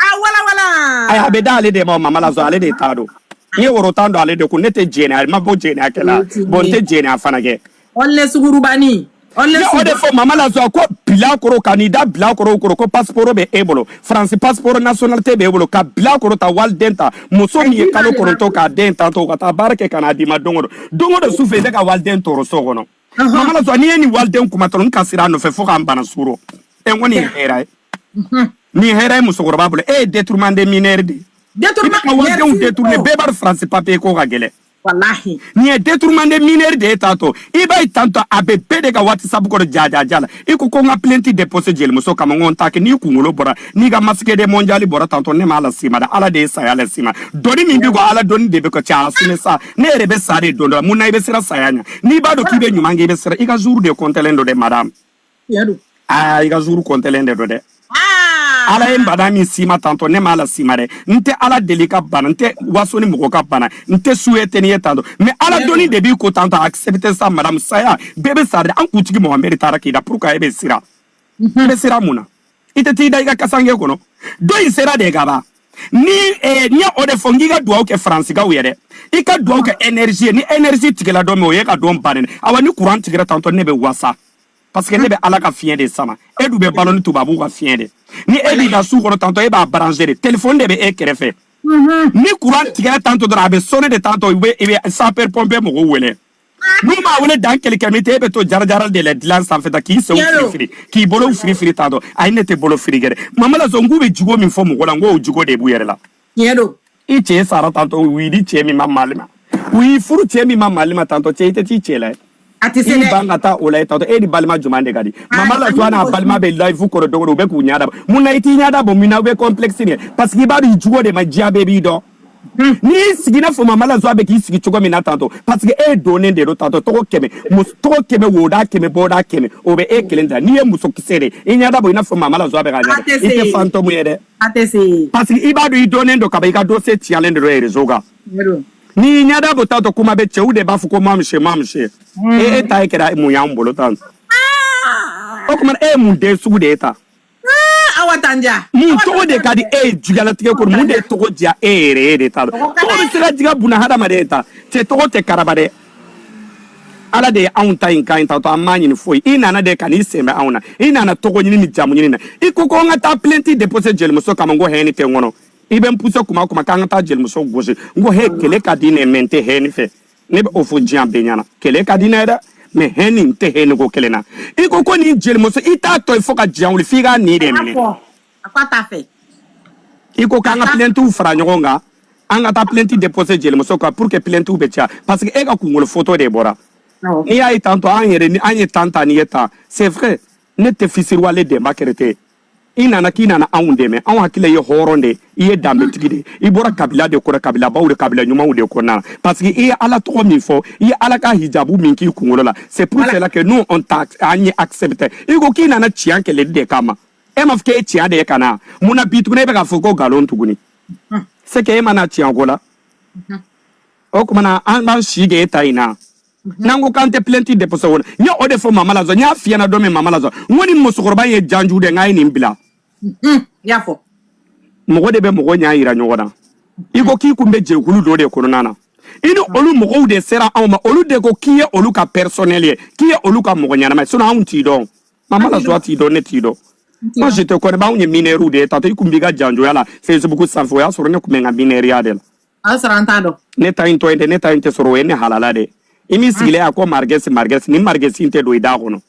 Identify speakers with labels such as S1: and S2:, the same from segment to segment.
S1: a walawala ayi a bɛ da ale de ma mama la joie ale de t'a dɔn n ye woro tan don ale de kun ne tɛ jɛnɛ a ma bɔ jɛnɛkɛla bɔn n tɛ jɛnɛya fana kɛ ɔlɛ sungurunbani ɔlɛ ne y'o de sugu fɔ mama la joie ko bilakoro ka n'i da bilakorow kɔrɔ ko pasiporo bɛ e bolo faransi pasiporo nationalité bɛ e bolo ka bilakoro ta waliden ta muso min ye kalo kɔnɔntɔn k'a den tantɔ ka taa baara kɛ ka n'a d'i ma don o don don o don su fɛ i bɛ ka waliden tɔɔrɔ so kɔnɔ Mama la joie n'i ye nin waliden kuma dɔrɔn n ka sira a nɔfɛ fo k'an bana sugoro e n ko nin ye hɛrɛ ye nin ye hɛrɛ ye musokɔrɔba bolo e ye détournement de mineur de ye Détournement- i bɛ ka walidenw merci détourner fort. bɛɛ b'a dɔn France papier ko ka gɛlɛn walahi nin ye détournement de mineur de ye t'a to i b'a ye tantɔ a bɛ bɛɛ de ka whatsapp kɔrɔ jajaja la i ko ko n ka plainte déposé jelimuso kama n ko n t'a kɛ n'i kunkolo bɔra n'i ka masque de mondial bɔra tantɔ ne m'a las'i ma dɛ ala de ye saya las'i ma dɔnni min bɛ ko ala dɔnni de bɛ ka caya a sini sa ne yɛrɛ bɛ sa de don dɔ mun na i bɛ siran saya ɲɛ n'i b'a dɔn k'i bɛ ɲuman kɛ i bɛ siran i ka jour de kɔntɛlen don dɛ madame aa i ka jour kɔntɛlen de don dɛ ala ye bana min s'i ma tantɔ ne m'a las'i ma dɛ n tɛ ala deli ka bana n tɛ waso ni mɔgɔ ka bana n tɛ souhaiter nin ye tantɔ mɛ ala dɔnni de b'i ko tantɔ accepte sa madame saya bɛɛ bɛ sa de an kuntigi mohamɛdi taara k'i da pourquoi e bɛ siran i bɛ siran mun na i tɛ t'i da i ka kasanke kɔnɔ don in sera de ka ban ni eh, n ye o de fɔ n k'i ka dugawu kɛ faransikaw yɛrɛ i ka dugawu kɛ energie ni energie tigɛla don min o y'i ka don bannen awa ni kuran tigɛra tantɔ ne bɛ wasa parce que ne bɛ ala ka fiɲɛ de sama e dun bɛ balo ni tubabuw ka fiɲɛ de ni e b'i ka so kɔnɔ tantɔ e b'a branche de telefɔni de bɛ e kɛrɛfɛ ni kuran tigɛra tantɔ dɔrɔn a bɛ sonner de tantɔ i bɛ i bɛ sapeur pompier mɔgɔw wele n'u ma wele don kelen kelen min tɛ e bɛ to jarajara de la dilan sanfɛ ta k'i senw firifiri k'i bolow firifiri t'a dɔn ayi ne tɛ bolo firi gɛrɛ mama la joie k'u bɛ jogo min fɔ mɔgɔ la n k'o jogo de b'u yɛrɛ la tiɲɛ don i cɛ sara tantɔ u y'i di cɛ min ma mali ma u y'i furu cɛ min ma mali ma tantɔ cɛ i tɛ t'i cɛ lajɛ a tɛ se i dɛ ban ka taa o lajɛ tantɔ e ni balima jumɛn de ka di mama la joie n'a balima bɛ live kɔrɔ don o don u bɛ k'u ɲɛda bɔ mun na i t'i ɲɛda bɔ mun na u bɛ complexe nin ye parce que i b'a dɔn i jogo de ma diya bɛɛ b'i dɔn Hmm. n'i y'i sigi n'a fɔ mama la joie bɛ k'i sigi cogo min na tantɔ parce que e ye dɔnnen de don tantɔ tɔgɔ kɛmɛ tɔgɔ kɛmɛ woda kɛmɛ boda kɛmɛ o bɛ e kelen da n'i ye muso kisɛ de i ɲɛda bɔ i n'a fɔ mama la joie bɛ ka ɲɛ i tɛ fantɔmu ye dɛ parce que i b'a dɔn i dɔnnen don kaban i ka dossier ciyalen de don rezo kan n'i ɲɛda bɔ tantɔ kuma bɛ cɛw de b'a fɔ ko mamuso mamuso e e ta ye kɛra mun y'an bolo tan ah! o tuma e ye mun den sugu de ye tan awa tan diya mun tɔgɔ de ka di e ye juguyalatigɛ kɔnɔ mun de ye tɔgɔ diya e yɛrɛ de t'a dɔn Tɔgɔ ka tɔgɔ bɛ se ka diya bunahadamaden ta cɛ tɔgɔ tɛ karaba dɛ ala de ye anw ta in kan in ta to an m'a ɲini foyi i nana de ka n'i sen bɛ anw na i nana tɔgɔ ɲini ni jamu ɲini na i ko ko an ka taa plenti depose jelimuso kama n ko haine tɛ n kɔnɔ i bɛ n puse kuma o kuma k'an ka taa jelimuso gosi n ko he kɛlɛ ka di n ye mɛ n tɛ haine fɛ ne bɛ o fɔ diɲɛ bɛɛ ɲɛna kɛlɛ ka di ne ye dɛ mɛ hɛni n tɛ hɛni ko kelen na i ko ko nin jelimuso i t'a to yen fo ka diɲɛ wuli f'i k'a nin de minɛ i ko k'an ka pilɛntiw fara ɲɔgɔn kan an ka taa pilɛnti depose jelimuso kan pour que pilɛntiw bɛ caya parce que e ka kungolo foto de bɔra n'i y'a ye tantɔ an yɛrɛ ni an ye tan ta ni ye tan c'est vrai ne tɛ fisiriwale denba kɛrɛtɛ i nana k'i nana anw dɛmɛ anw hakili la i ye hɔrɔn de i ye danbetigi de i bɔra kabila de kɔnɔ kabilabaw de kabila ɲumanw de kɔnɔna parce que i ye ala tɔgɔ min fɔ i ye ala ka hijabu min k'i kunkolo la c'est pour cela que nous on t'a an ye accepté i ko k'i nana tiɲɛ kɛlɛli de kama e ma fɔ k'e tiɲɛ de ye ka na mun na bi tuguni e bɛ k'a fɔ ko nkalon tuguni c'est que e ma na tiɲɛ ko la o tuma na an b'an sika e ta in na n'an ko k'an tɛ plɛnti depose o la n ye o de fɔ mama la zwa n y'a f'i ɲɛna don min mama la zwa n ko nin musokɔrɔba ye janju dɛ n k'a ye nin bila n y'a fɔ mɔgɔ de bɛ mɔgɔ ɲa yira ɲɔgɔn na i ko k'i kun bɛ jɛkulu dɔ de kɔnɔna na i ni olu mɔgɔw de sera anw ma olu de ko k'i ye olu ka pɛrisɔnɛli ye k'i ye olu ka mɔgɔ ɲɛnama ye sinɔn anw t'i dɔn mama la zwa t'i dɔn ne t'i dɔn moi je te connais pas anw ye minɛriw de ye tantɔ i kun b'i ka janjoya la facebook sanfɛ o y'a sɔrɔ ne kun bɛ n ka minɛriya de la a y'a sɔrɔ an t'a dɔn ne ta in to yen dɛ ne ta in tɛ sɔrɔ o ye ne halala dɛ i min sigilen a ko marigɛsi marigɛsi ni marigɛsi in tɛ don i da kɔnɔ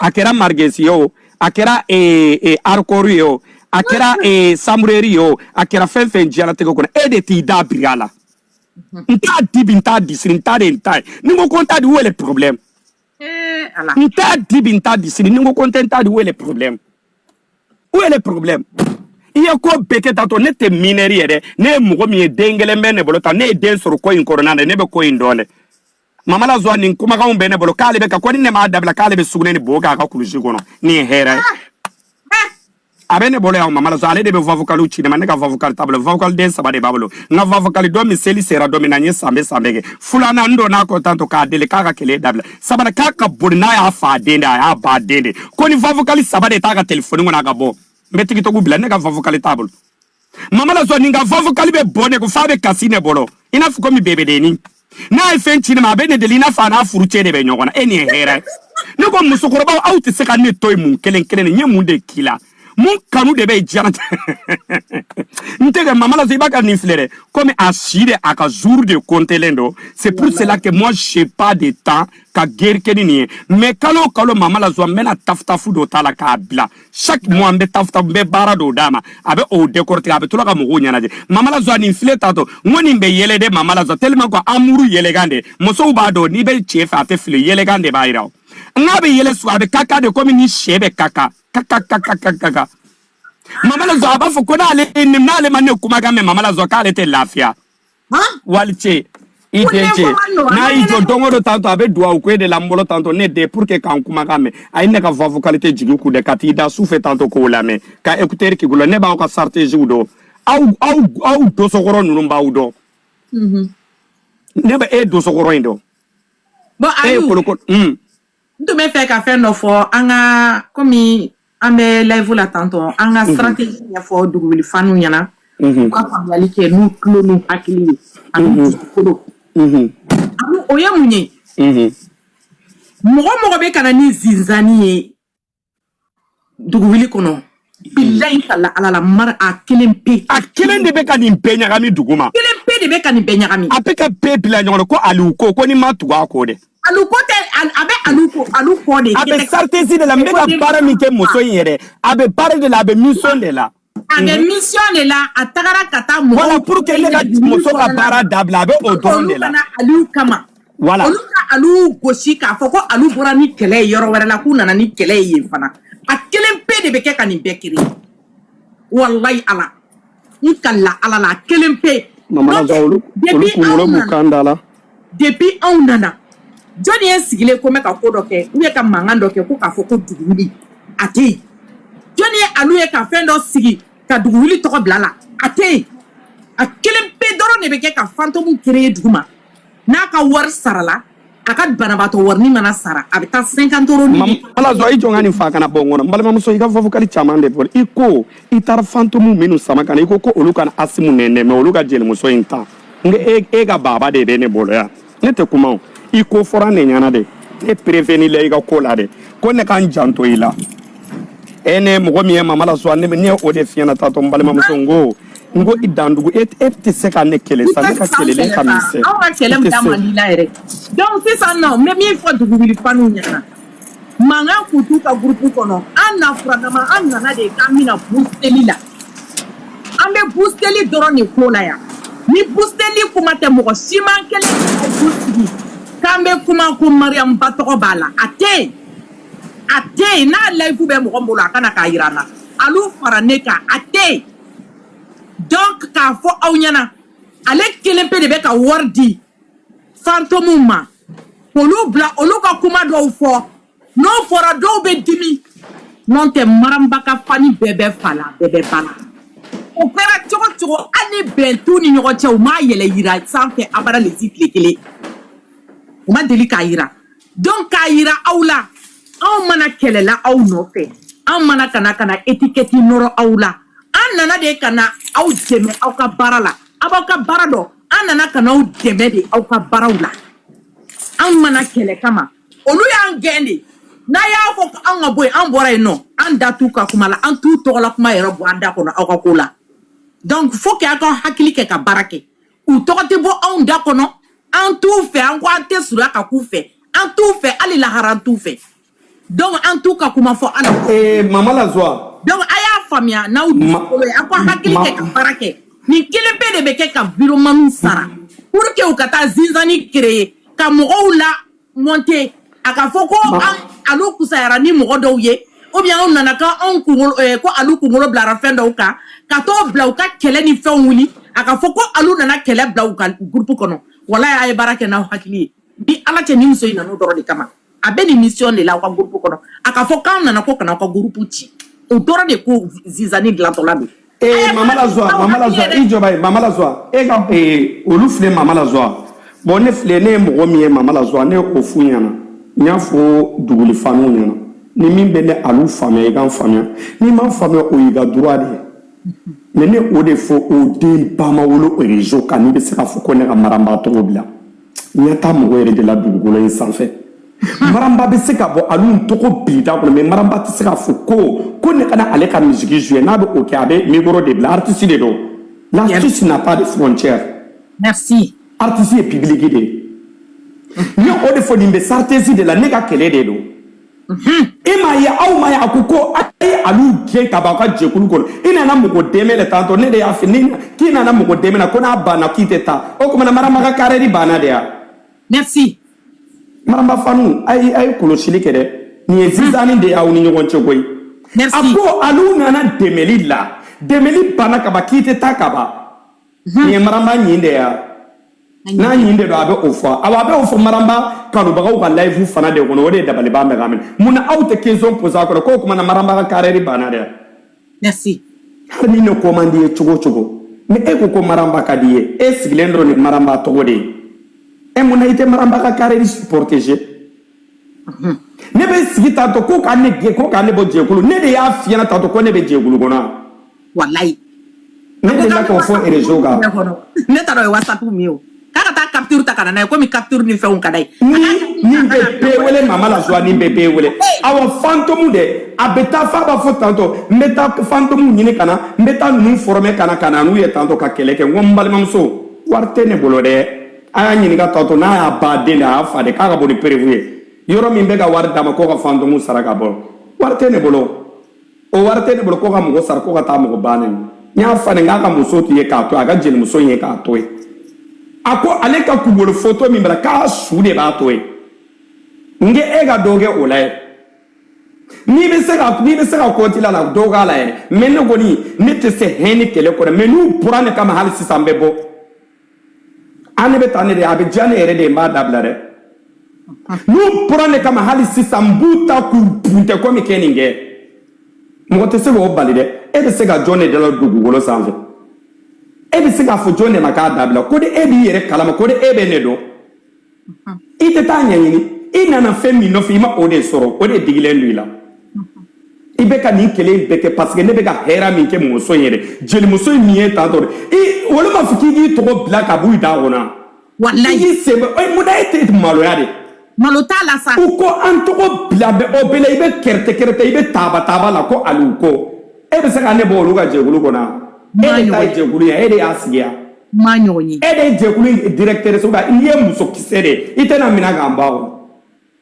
S1: a kɛra marigɛsi ye o a kɛra eh, eh, arikɔri ye o a kɛra eh, samureri ye o a kɛra fɛn fɛn diɲɛlatigɛ kɔnɔ e de t'i da biri a la n t'a di bi n t'a di sini n t'a di n t'a ye ni n ko ko n t'a di où est le problème n t'a di bi n t'a di sini ni n ko ko n tɛ n t'a di où est le problème où est le problème i ye ko bɛɛ kɛ tantɔ ne tɛ minɛri ye dɛ ne ye mɔgɔ min ye den gɛlɛn bɛ ne bolo tan ne ye den sɔrɔ ko in kɔnɔna na ne bɛ ko in dɔn dɛ mama la zwa nin kumakanw bɛ ne bolo k'ale bɛ ka ko ni ne m'a dabila k'ale bɛ sugunɛ ni bo k'a ka kulusi kɔnɔ nin ye hɛrɛ ye a bɛ ne bolo yan mama la zwa ale de bɛ vavokaliw ci ne ma ne ka vavokali t'a bolo vavokaliden saba de b'a bolo n ka vavokali dɔ min seli sera don min na n ye sanbɛɛ sanbɛɛ kɛ filanan n donna kɔ tantɔ k'a deli k'a ka kɛlɛ dabila sabanan k'a ka boli n'a y'a fa den de a y'a ba den de ko ni vavokali saba de t'a ka telefoni kɔnɔ a k'a bɔ n bɛ tigitɔgu bila ne ka vavokali t'a bolo mama la zwa ni n ka vavokali bɛ bɔ ne ko fa bɛ kasi ne bolo i n'a fɔ ko mi bebe deni na e fɛn ci ne ma be ne delina fa na furucɛ de bɛ ɲɔgɔn na eni e hera ne ko musokɔrɔba aw tɛ se ka ne to yen mun kelen kelen n ye mun de k'i la mun kanu de bɛ jara n tɛgɛ mama la zwa i b'a ka ni flere comme a shire a ka jour de contelendo c'est pour cela que moi j'ai pas de temps ka guerre kɛ ni nin mais kalo kalo mama la zwa bɛna taftafu dɔ tala ka bila chaque mois n bɛ tafu ta n bɛ baara dɔw d'a ma a bɛ o décortiquer a bɛ to la ka mɔgɔw ɲɛnajɛ mama la zwa nin filɛ tantɔ n ko nin bɛ yɛlɛ dɛ mama la zwa tellement ko amour yɛlɛkan de musow b'a dɔn n'i bɛ cɛ fɛ a tɛ fili yɛlɛkan de b'a jira o n k'a bɛ yɛlɛ su a bɛ kaka de komi ni sɛ bɛ kaka kaka kaka kaka kaka mama la zwa a b'a fɔ ko n'ale n'ale ma ne kumakan mɛn mama la zwa k'ale tɛ lafiya walice i den ce n'a y'i jɔ don o don tantɔ a bɛ duwawu ko e de la n bolo tantɔ ne den pour que ka n kumakan mɛn a ye ne ka voix vocale tɛ jigin kun dɛ ka t'i da su fɛ tantɔ k'o lamɛn ka écouteur k'i tulo ne b'aw ka stratégie dɔn aw aw aw dosokɔrɔ ninnu n b'aw dɔn ne bɛ e dosokɔrɔ in dɔn e ye kolokolo n tun bɛ fɛ ka fɛn dɔ fɔ an ka komi an bɛ layifu la tantɔ an ka strategie ɲɛfɔ dugu wuli faniw ɲɛna u ka faamuyali kɛ n'u tulo n'u hakili ye an'u kunkolo ani o ye mun ye mɔgɔ o mɔgɔ bɛ ka na ni zinzani ye dugu wuli kɔnɔ bilayi n kalila ala la mari a kelen pe a kelen de bɛ ka nin bɛɛ ɲagami duguma a kelen pe de bɛ ka nin bɛɛ ɲagami a bɛ ka bɛɛ bila ɲɔgɔn na ko aliyu ko ko n'i ma tugu a kɔ dɛ alu ko tɛ a bɛ alu ko alu kɔ de a bɛ stratégie de la n bɛ ka baara min kɛ muso in yɛrɛ a bɛ baara de la a bɛ mission de la A bɛ mission de la a taara ka taa mɔgɔw voilà pour que ne ka muso ka baara dabila a bɛ o dɔrɔn de la, olu ka na Aliyu kama, voilà, olu ka Aliyu gosi k'a fɔ ko Aliyu bɔra ni kɛlɛ ye yɔrɔ wɛrɛ la k'u nana ni kɛlɛ ye yen fana a kelen pe de bɛ kɛ ka nin bɛɛ kereye walayi Ala n kalila Ala la a kelen pe, Mamana Zan olu olu kunkolo b'u kan da la depuis anw nana jɔnni ye sigilen ko mɛn ka ko dɔ kɛ u ye ka mankan dɔ kɛ ko k'a fɔ ko dugu wuli a tɛ yen jɔnni ye alu ye ka fɛn dɔ sigi ka dugu wuli tɔgɔ bila la a tɛ yen a kelen pe dɔrɔn de bɛ kɛ ka fantomu kereye duguma n'a ka wari sarala a ka banabaatɔ warini mana sara a bɛ taa cinquante euros ni ala zɔ i jɔ n ka nin fɔ a kana bɔ n kɔnɔ n balimamuso i ka fɔfɔkali caman de fɔ i ko i taara fantomu minnu sama ka na i ko ko olu ka na asimu neni mɛ olu ka jelimuso in ta n e, e ka baba de bɛ ne bolo yan ne tɛ kuma o i ko fɔra ne ɲɛna de ne prévenir la i ka ko la de ko ne ka n janto i la e ne mɔgɔ min ye mama la sɔn ne ye o de f'i ɲɛna tantɔ n balimamuso n ko n ko i da tugu e e tɛ se ka ne kɛlɛ sa ne ka kɛlɛlen ka misɛn aw ka kɛlɛ da man di la yɛrɛ donc sisan nɔ n bɛ min fɔ dugu wuli faniw ɲɛna mankan tun t'u ka gurupu kɔnɔ an na furadama an nana de k'an bɛ na busiteli la an bɛ busiteli dɔrɔn de ko la yan ni busiteli kuma tɛ mɔgɔ si man kɛlɛ ka bu sigi k'an bɛ kuma ko mariyamu ba tɔgɔ b'a la a tɛ yen a tɛ yen n'a layifu bɛ mɔgɔ min bolo a ka na k'a jira an na alu fara ne kan a tɛ yen donc k'a fɔ aw ɲɛna ale kelen pe de bɛ ka wari di fantomu ma k'olu bila olu ka kuma dɔw fɔ n'o fɔra dɔw bɛ dimi n'o tɛ mariyamu ba ka fani bɛɛ bɛ fa la bɛɛ bɛ ba la o kɛra cogo cogo hali ni bɛn t'u ni ɲɔgɔn cɛ u m'a yɛlɛ yira sanfɛ abada lesi tile kelen u ma deli k'a yira donc k'a yira aw la anw ma na kɛlɛ la aw nɔfɛ anw ma na ka na ka na etikɛti nɔrɔ aw la an nana de ka na aw dɛmɛ aw ka baara la aw b'aw ka baara dɔ an nana ka n'aw dɛmɛ de aw ka baaraw la an ma na kɛlɛ kama olu y'an gɛn de n'a y'a fɔ ko an ka bɔ yen an bɔra yen nɔ an da t'u ka kuma la an t'u tɔgɔla kuma yɛrɛ bɔ an da kɔnɔ aw ka ko la donc fo k'a ka hakili kɛ ka baara kɛ u tɔgɔ tɛ bɔ anw da kɔnɔ an t'u fɛ an ko an tɛ surunya ka k'u fɛ an t'u fɛ hali lahara an t'u fɛ donc an t'u ka kuma fɔ ala eh, mama la joie donc a y'a faamuya n'aw dusukolo ye a ka hakili kɛ ka baara kɛ nin kelen bɛɛ de bɛ kɛ ka vidéomanw sara pour que u ka taa zizanie créer ka mɔgɔw la monter a ka fɔ ko alu kusayara ni mɔgɔ dɔw ye ou bien anw nana ko anw kunkolo eh, ko alu kunkolo bilara fɛn dɔw kan ka t'o bila u ka kɛlɛ ni fɛnw wuli a ka fɔ ko alu nana kɛlɛ bila u ka groupe kɔnɔ walayi a ye baara kɛ n'aw hakili ye ni ala cɛ ni muso in nana o dɔrɔn de kama a bɛ nin mission de la aw ka groupe kɔnɔ a ka fɔ k'an nana ko ka na aw ka groupe ci o dɔrɔn de ko zizanie dilantɔla don ee mama la joie mama la joie i jɔba ye mama la joie e ka ee olu filɛ mama la joie bon ne filɛ ne ye mɔgɔ min ye mama la joie ne ye o f'u ɲɛna n y'a fɔ duguli fanw ɲɛna ni min bɛ ne alu faamuya i k'an faamuya n'i m'an faamuya o y'i ka droit de ye mais ne o de fɔ o den ba ma wolo o réseau kan n'i bɛ se ka fɔ ko ne ka maramba tɔgɔ bila N taa mɔgɔ yɛrɛ de la dugukolo in sanfɛ maramba bɛ se ka bɔ alu tɔgɔ b'i da kɔnɔ mais maramba tɛ se ka fɔ ko ko ne kana ale ka musique jouer n'a bɛ o kɛ a bɛ micro de bila artiste de don la musique n'a pas de frontière artiste ye public de ye ne o de fɔ nin bɛ saratesi de la ne ka kɛlɛ de don e m'a ye aw m'a ye a ko ko a ye alu gɛn ka bɔ aw ka jɛkulu kɔnɔ i nana mɔgɔ dɛmɛ de tantɔ ne de y'a f'i ye k'i nana mɔgɔ dɛmɛ na ko n'a banna k'i tɛ taa o tuma na maramba ka carrière banna de ya merci maramba fanw a ye a ye kɔlɔsili kɛ dɛ nin ye zizanie de y'aw ni ɲɔgɔn cɛ koyi a ko alu nana dɛmɛli la dɛmɛli banna ka ban k'i tɛ taa ka ban nin maramba ɲin de ya n'a ɲin de don a bɛ o fɔ awa a bɛ o fɔ maramba kanubagaw ka live fana de kɔnɔ o de ye dabaliban bɛ ka n minɛ mun na aw tɛ question poser a kɔrɔ k'o tuma na maramba ka carrière banna dɛ merci hali ni ne ko man d'i ye cogo o cogo ni e ko ko maramba ka d'i ye e sigilen dɔrɔn ni maramba tɔgɔ de ye e mun na i tɛ maramba ka carrière protéger ne bɛ sigi tantɔ ko ka ne gɛn ko ka ne bɔ jɛkulu ne de y'a f'i ɲɛna tantɔ ko ne bɛ jɛkulu kɔnɔ walayi ne delila k'o fɔ réseau kan ne t'a dɔn o ye whatsapp min ye o k'a ka taa capture ta ka na n'a ye comme capture ni fɛnw ka d'a ye ni nin bɛ bɛɛ wele mama la joie nin bɛ bɛɛ wele awa fantôme dɛ a bɛ taa f'a b'a fɔ tantɔ n bɛ taa fantôme ɲini ka na n bɛ taa ninnu former ka na ka na n'u ye tantɔ ka kɛlɛ kɛ n ko n balimamuso wari tɛ ne bolo dɛ a y'a ɲininka tɔ to n'a y'a ba den de a y'a fa de k'a ka bɔ ni perewu ye yɔrɔ min bɛ ka wari d'a ma k'o ka fantomu sara ka bɔ wari tɛ ne bolo o wari tɛ ne bolo k'o ka mɔgɔ sara k'o ka taa mɔgɔ ba nɛni a fa nɛni k'a ka muso tun ye k'a to a ka jelimuso ye k'a to ye a ko ale ka kungolo foto min bila k'a su de b'a to ye n ko e ka dɔ kɛ o la ye n'i bɛ se ka n'i bɛ se ka kɔnti la la dɔ k'a la yɛrɛ mɛ ne kɔni ne tɛ se hɛn ni kɛlɛ kɔnɔ mɛ n'u bɔra ne kama hali sisan n bɛ bɔ ani bɛ taa ne de a bɛ diya ne yɛrɛ de ye n b'a dabila dɛ n'u bɔra ne kama hali sisan n b'u ta k'u buntɛ komi kɛ nin kɛ mɔgɔ tɛ se k'o bali dɛ e bɛ se ka jɔn de dala dugukolo sanfɛ e bɛ se k'a fɔ jɔn de ma k'a dabila ko de e b'i yɛrɛ kalama ko de e bɛ ne dɔn i tɛ taa ɲɛɲini i nana fɛn min nɔfɛ i ma o de sɔrɔ o de digilen don i la i bɛ ka nin kɛlɛ in bɛɛ kɛ parce que ne bɛ ka hɛrɛ min kɛ muso in yɛrɛ jelimuso in min ye tan tɔ i olu m'a fɔ k'i k'i tɔgɔ bila ka b'i da kɔnɔ walayi k'i sen bɛ ɛ mun na e tɛ maloya de malo t'a la sa u ko an tɔgɔ bila bɛ o bɛɛ la i bɛ kɛrɛtɛ kɛrɛtɛ i bɛ taaba taaba la ko aliyu ko e bɛ se ka ne bɔ olu ka jɛkulu kɔnɔ e de ta ye jɛkulu ye e de y'a sigi wa ma ɲɔgɔn ye e de ye jɛkulu in directeur so n'i ye muso kisɛ de ye i tɛna minɛ k'an ba kɔnɔ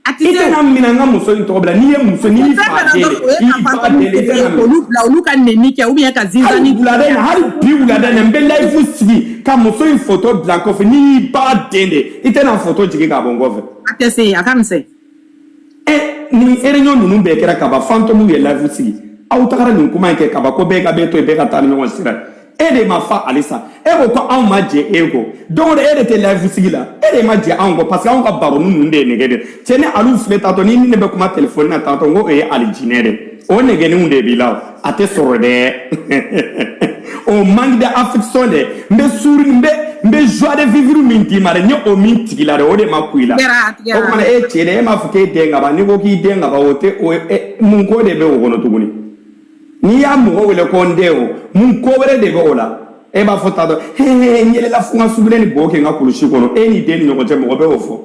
S1: a tɛ i tɛna minɛ n ka muso in tɔgɔ bila n'i ye muso n'i y'i fa den de i y'i ba den de i tɛna minɛ olu bila olu ka nɛni kɛ ou bien ka hali sisan nin wulada in hali bi wulada in na n bɛ layifu sigi ka muso in foto bila n kɔfɛ n'i y'i ba den de ye i tɛ na foto jigin k'a bɔ n kɔfɛ a tɛ se yen a ka misɛn ɛ nin réunion ninnu bɛɛ kɛra kaban fantɔmu ye layifu sigi aw tagara nin kuma in kɛ kaban ko bɛɛ ka bɛɛ to yen bɛɛ ka taa ni ɲɔgɔn sira e de ma fa halisa e ko ko anw ma jɛ e kɔ don o don e de tɛ layifu sigi la e de ma jɛ anw kɔ parce que anw ka baroni ninnu de ye nege de cɛ ni alu filɛ taatɔ ni ni ne bɛ kuma telefɔni na taatɔ n ko o ye alijinɛ de o negeninw de b'i la o a tɛ sɔrɔ dɛ o manque d'affection dɛ n bɛ souri n bɛ n bɛ joie de vivre min d'i ma dɛ n ye o min tigi la dɛ o de ma kun i la o kumana e cɛ dɛ e m'a fɔ k'e den ka ban n'i ko k'i den ka ban o tɛ o mun ko de bɛ o kɔnɔ tuguni n'i ye mɔgɔ wele ko n den o mun ko wɛrɛ de bɛ o la e b'a fɔ t'a dɔn he he n yɛlɛla fo n ka sugunɛ ni bo kɛ n ka kulusi kɔnɔ e ni den ni ɲɔgɔn cɛ mɔgɔ bɛ o fɔ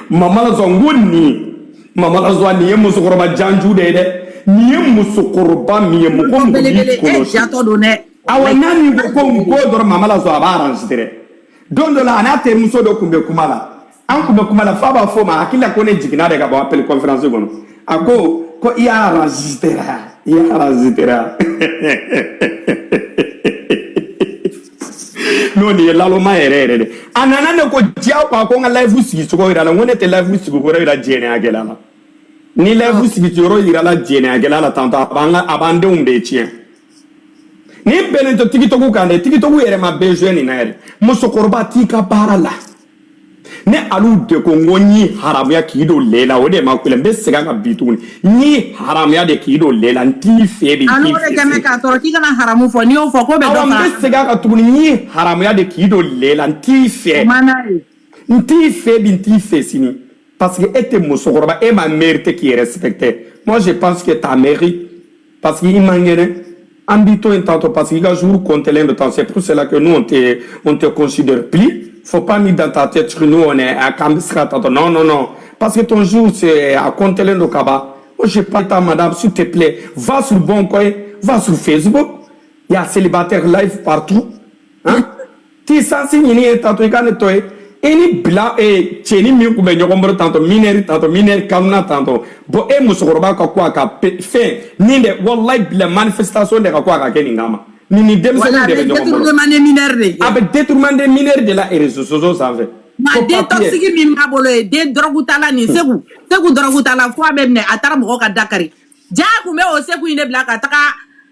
S1: mama la sɔn n ko nin ye mama la sɔn nin ye musokɔrɔba janju de ye dɛ nin ye musokɔrɔba min ye mɔgɔ mɔgɔ b'i belebele e kɔlɔsi jatɔ don dɛ awa n'a min ko ko n ko dɔrɔn mama la sɔn a b'a aransi dɛ don dɔ la a n'a terimuso dɔ tun bɛ kuma la an tun bɛ kuma la f'a b'a fɔ a ma a hakili la ko ne jiginna de ka bɔ appel conférence kɔnɔ a ko ko i y'a aransi dɛ i y'a aransi dɛ n'o nin ye laloma yɛrɛ yɛrɛ dɛ a nana ne ko diya ko a ko n ka layifu sigi cogo yira a la n ko ne tɛ layifu sigi kɔrɔ yira jɛnɛyakɛla la ni layifu sigi yɔrɔ yirala jɛnɛyakɛla la tantɔ a b'an ka a b'an denw de tiɲɛ nin bɛnnen tɛ tikitɔku kan dɛ tikitɔku yɛrɛ ma bɛn zuwɛ nin na yɛrɛ musokɔrɔba t'i ka baara la ne alu de ko n ko n y'i haramuya k'i don lɛ la o de ma kule n bɛ segin a kan bi tuguni n y'i haramuya de k'i don lɛ la n t'i fɛ de k'i fɛ kɛmɛ k'a tɔɔrɔ k'i kana haramu fɔ n'i y'o fɔ ko bɛ dɔ kan n bɛ segin a kan tuguni n y'i haramuya de k'i don lɛ la n t'i fɛ n t'i fɛ bi n t'i fɛ sini parce que e tɛ musokɔrɔba e ma mériter k'i respecter moi je pense que ta mairie parce que i man kɛnɛ an b'i to yen tantôt parce que i ka jour comptelen don tan c'est pour cela que nous on te on te considère plus faut pas ni dans ta tête que nous on est à k'an bɛ se ka tantôt non non non parce que ton jour c'est à comptelen don ka ban moi je pas ta madame s'il te plaît va sur bon coin va sur Facebook il y a célibataire live partout hein ti sansi ɲini ye tantɔ i ka ne to yen i ni bila e cɛni min tun bɛ ɲɔgɔn bolo tantɔ minɛri tantɔ minɛri kanuna tantɔ bɔn e musokɔrɔba ka kan ka fɛn nin dɛ walayi bilayi manifestation de ka kan ka kɛ nin kama nin ni denmisɛnnin de bɛ ɲɔgɔn bolo a bɛ détournement de mineur de la réseaux sociaux sanfɛ nka den toxique min b'a bolo ye den dɔrɔgutala nin seku seku dɔrɔgutala fo a bɛ minɛ a taara mɔgɔ ka da kari jaa tun bɛ o seku in de bila ka taga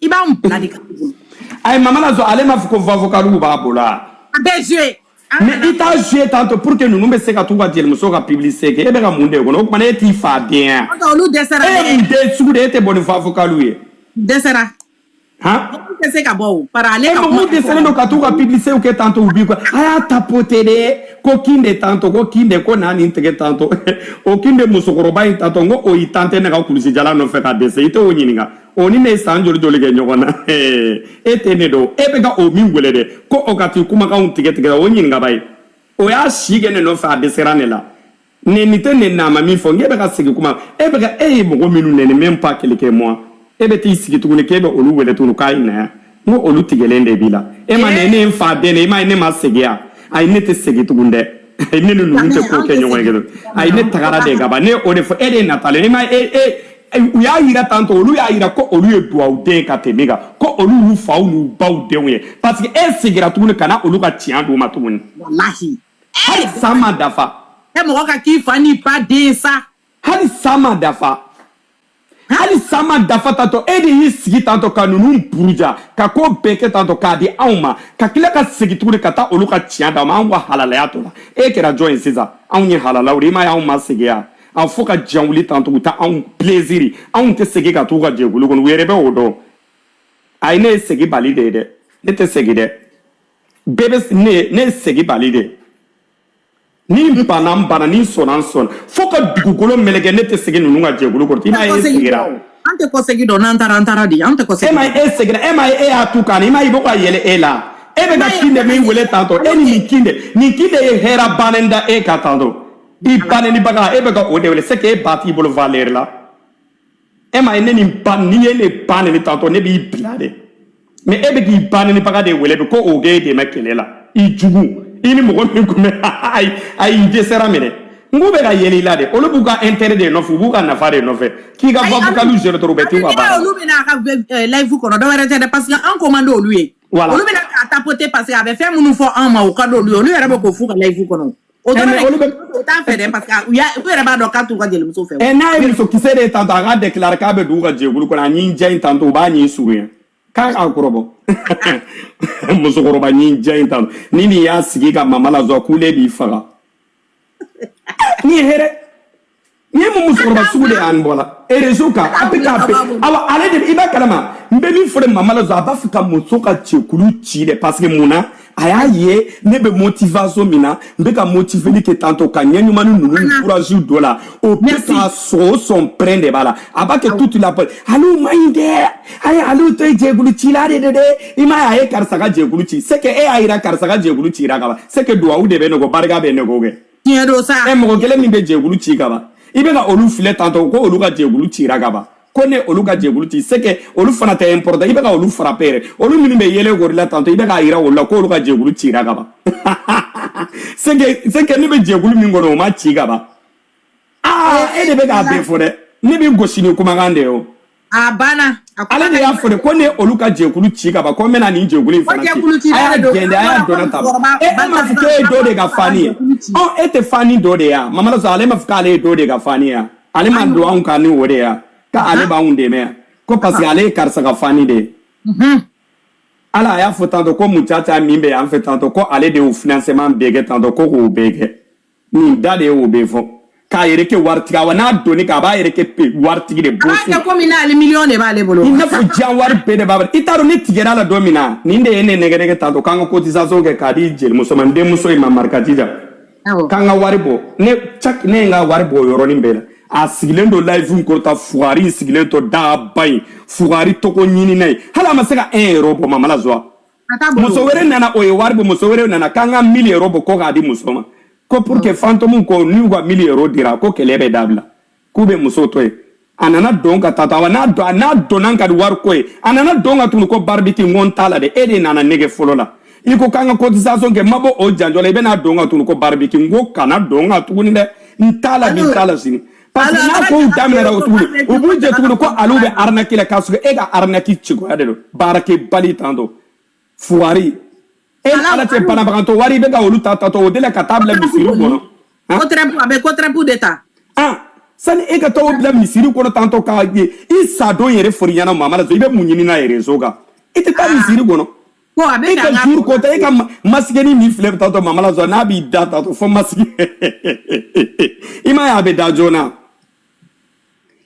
S1: i b'a bila de ka ayi mama na ale m'a fɔ ko vavokaliw b'a bolo a bɛɛ joue mais i t'a joue tantɔ pour que ninnu bɛ se ka t'u ka jelimuso ka publicité kɛ e bɛ ka mun de kɔnɔ o tuma e t'i fa den yan olu dɛsɛra e ye mun den sugu de e tɛ bɔ ni vavokaliw ye dɛsɛra han tɛ se ka bɔ o para ale ka mɔgɔw dɛsɛlen don ka t'u ka publicité kɛ tantɔ u b'i kɔ a y'a tapoter de ko kin de tantɔ ko kin de ko n'a nin tigɛ tantɔ o kin de musokɔrɔba in tantɔ n ko o ye san tan kɛ ne ka kulusijala nɔfɛ ka dɛsɛ i t'o ɲininka o ni ne ye san joli joli kɛ ɲɔgɔn na e tɛ ne dɔn e bɛ ka o min wele dɛ ko o ka t'i kumakanw tigɛ tigɛ taa o ɲininka ba ye o y'a si kɛ ne nɔfɛ a dɛsɛra ne la nɛni tɛ ne na a ma min fɔ n'e bɛ ka segin kuma e bɛ ka e ye mɔgɔ minnu nɛni même pas quelques mois e bɛ t'i sigi tuguni k'e bɛ olu wele tuguni k'a ye na yan n ko olu tigɛlen de b'i la e ma ne ne ye n fa den de i m'a ye ne ma segin yan ayi ne tɛ segin tugun dɛ ayi ne ni ninnu tɛ ko kɛ ɲɔgɔn ye kelen ayi ne tagara de ka ban ne o de fɔ e de ye natalen e ma e e u y'a yira tantɔ olu y'a yira ko olu ye duwawu den ka tɛmɛ e kan ko olu y'u faw n'u baw denw ye parce que e segira tuguni ka na olu ka tiɲɛ d'u ma tuguni walahi hali san ma dafa e mɔgɔ ka k'i fa n'i ba den sa hali san ma dafa hali san ma dafa tantɔ e de y'i sigi tantɔ ka ninnu buruja ka ko bɛɛ kɛ tantɔ k'a di anw ma ka tila ka segin tuguni ka taa olu ka tiɲɛ d'u ma anw ka halalaya to la e kɛra jɔn ye sisan anw ye halalaw de ye i m'a ye anw ma segin yan fo ka diɲɛ wuli tantɔ u ta anw pileziri anw tɛ segin ka t'u ka jɛkulu kɔnɔ u yɛrɛ bɛ o dɔn a ye ne ye seginbali de ye dɛ ne tɛ segin dɛ bɛɛ bɛ ne ye ne ye seginbali de ye ni n banna n banna ni n sɔnna n sɔnna fo ka dugukolo meleke ne tɛ segin ninnu ka jɛkulu kɔrɔ i m'a ye e segira an tɛ kɔsegi dɔn n'an taara an taara dɛ an tɛ kɔsegi e ma ye e segira e ma ye e y'a tu kan i m'a ye i bɛ ka yɛlɛ e la e bɛ ka kin de min wele tantɔ e ni min kin de min kin de ye hɛrɛ bannen da e ka tantɔ i ba nenibaga e bɛ ka o de wele c'est que e ba t'i bolo valeur la e ma ye ne nin ba n'i ye ne ba neni tantɔ ne b'i bila de mais e bɛ k'i ba nenibaga de wele bi ko o k'e dɛmɛ kɛlɛ la i jugu i ni mɔgɔ min kun bɛ ayi ayi i dɛsɛra minɛ n k'u bɛ ka yɛlɛ i la de olu b'u ka intérêt de nɔfɛ u b'u ka nafa de nɔfɛ k'i ka vocalw gérer dɔrɔn u bɛ t'u ka baara la olu bɛna a ka eh, live kɔnɔ dɔwɛrɛ tɛ dɛ parce que an ko man di olu ye olu bɛna k'a tapoter parce que a bɛ fɛn minnu fɔ an ma o ka di olu ye olu yɛrɛ bɛ k'o f'u ka live kɔnɔ o dɔrɔn de olu bɛ o t'a fɛ dɛ parce que u y'a u yɛrɛ b'a dɔn k'a t'u ka jelimuso fɛ. ɛ n'a ye musokisɛ de ye tantɔ a k'a déclarer k'a bɛ don u ka jɛkulu kɔnɔ a ɲin jan in tantɔ u b'a ɲin surunya k'a k'a kɔrɔbɔ musokɔrɔba ɲin jan in tantɔ ni nin y'a sigi ka mama la joie kule b'i faga ni hɛrɛ nin ye mun musokɔrɔba sugu de y'an bɔ la réseau kan a bɛ k'a bɛ awa ale de i b'a kalama n bɛ min fɔ de mama la a b'a fɛ ka muso ka jɛkulu ci dɛ parce que mun na a y'a ye ne bɛ motivation min na n bɛ ka motiveli kɛ tantɔ ka ɲɛ ɲuman ni ninnu ni courage dɔ la o bɛ k'a sɔn o sɔn pɛrɛn de b'a la a b'a kɛ tutu la pɛrɛn aliw man ɲi dɛ a ye aliw to ye jɛkulu cila de de dɛ i m'a ye a ye karisa ka jɛkulu ci c'est que e y'a jira karisa ka jɛkulu cira ka ban c'est que duwawu de bɛ ne kɔ barika bɛ ne kɔ kɛ. tiɲɛ don sa ɛ mɔgɔ kelen min bɛ jɛkulu ci ka ban i bɛ ka olu filɛ tantɔ ko olu ka jɛkulu cira ka ban ko ne olu ka jɛkulu ci c'est que olu fana tɛ important i bɛ ka olu frapper yɛrɛ olu minnu bɛ yɛlɛ kori la tantɔ i bɛ k'a yira olu la ko olu ka jɛkulu cira ka ban c'est que c'est que ne bɛ jɛkulu min kɔnɔ o ma ci ka ban aa e de bɛ k'a bɛɛ fɔ dɛ ne b'i gosi ni kumakan de ye o a banna ale de y'a fɔ de ko ne ye olu ka jɛkulu ci ka ban ko n bɛna nin jɛkulu in fana ci a y'a gɛn de a y'a dɔnna ta e e m'a fɔ k'e ye dɔ de ka fani ye ɔ e tɛ fani dɔ de ye wa mamadu sɔrɔ ale m'a fɔ k'ale ye dɔ de ka fani ye wa ale ma don anw kan ni o de ye wa k'ale b'anw dɛmɛ yan ko parce que ale ye karisa ka fani de ye ala a y'a fɔ tantɔ ko mucaca min bɛ yan fɛ tantɔ ko ale de y'u financement bɛɛ kɛ tantɔ ko k'o bɛɛ kɛ nin da de ye o bɛ fɔ k'a yɛrɛ kɛ waritigi wa n'a donni k'a b'a yɛrɛ kɛ waritigi de bɔ so. a komi n'ale miliyɔn de b'ale bolo. i n'a fɔ diɲɛ wari bɛɛ de b'a bolo i t'a dɔn ne tigɛra a la don min na nin de ye ne nɛgɛnɛgɛ tantɔ k'an ka cotisation kɛ k'a di jelimuso ma n denmuso in ma marikatija k'an ka wari bɔ ne cak ne ye n ka wari bɔ o yɔrɔnin bɛɛ la a sigilen don live in kɔrɔta fugari in sigilen tɔ daba in fugari tɔgɔ ɲinina ye hali a ma se ka un yɛrɛ bɔ mama la joie muso wɛrɛ nana o ye wari bɔ muso wɛrɛ nana k'an ka mille euros bɔ ko k'a di muso ma ko pour que fantɔmu ko n'u ka mille euros dira ko kɛlɛ bɛ dabila k'u bɛ muso to yen a nana dɔn ka taa to awa n'a dɔnna ka di wari ko ye a nana don n kan tugun ko baribiti n ko n t'a la dɛ e de nana n nɛgɛn fɔlɔ la i ko k'an ka cotisation kɛ n ma bɔ o janjɔ la i bɛna don n kan tugun ko baribiti n ko kana don n kan tuguni dɛ n t'a la bi n t'a la sini n'a ko u daminɛna o tuguni u b'u jɛ tuguni ko aliw bɛ arnaque la k'a sɔrɔ e ka arnaque cogoya de don baarakɛbali tan don fugari e ni ala cɛ banabagatɔ wari i bɛ ka olu ta tatɔ o de la ka taa bila misiri kɔnɔ ko tɛrɛpu a bɛ ko tɛrɛpu de ta ah sani e ka taa o bila misiri kɔnɔ tantɔ k'a ye i sadon yɛrɛ fori ɲɛna mamalaso i bɛ mun ɲini n'a ye rezo kan i tɛ taa misiri kɔnɔ Ko a bɛ e ka juru ko tɛ e ka masikinin min filɛ bɛ taatɔ mamalaso n'a b'i da ta fɔ masiki i ma y'a bɛ da joona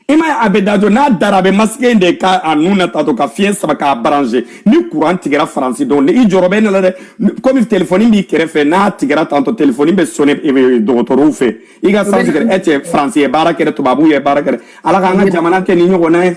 S1: i ma a bɛ da jɔ n'a dara a bɛ masiki de kɛ a nu na taatɔ ka fiɲɛ sama k'a branche ni kuran tigɛra faransi don min i jɔyɔrɔ bɛ ne la dɛ komi telefɔni b'i kɛrɛfɛ n'a tigɛra tantɔ telefɔni bɛ sɔnni dɔgɔtɔrɔw fɛ i ka santigɛ e cɛ faransi ye baara kɛ tubabuw ye baara kɛ ala k'an ka jamana kɛ ni ɲɔgɔnna ye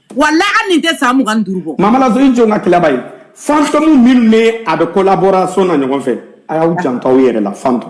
S1: wala an nin tɛ san mugan ni duuru bɔ mamalaso i jɔ n ka tilaba ye fantɔmu minnu n'a bɛ collaboration na ɲɔgɔn fɛ a y'aw janto aw yɛrɛ la fantɔmu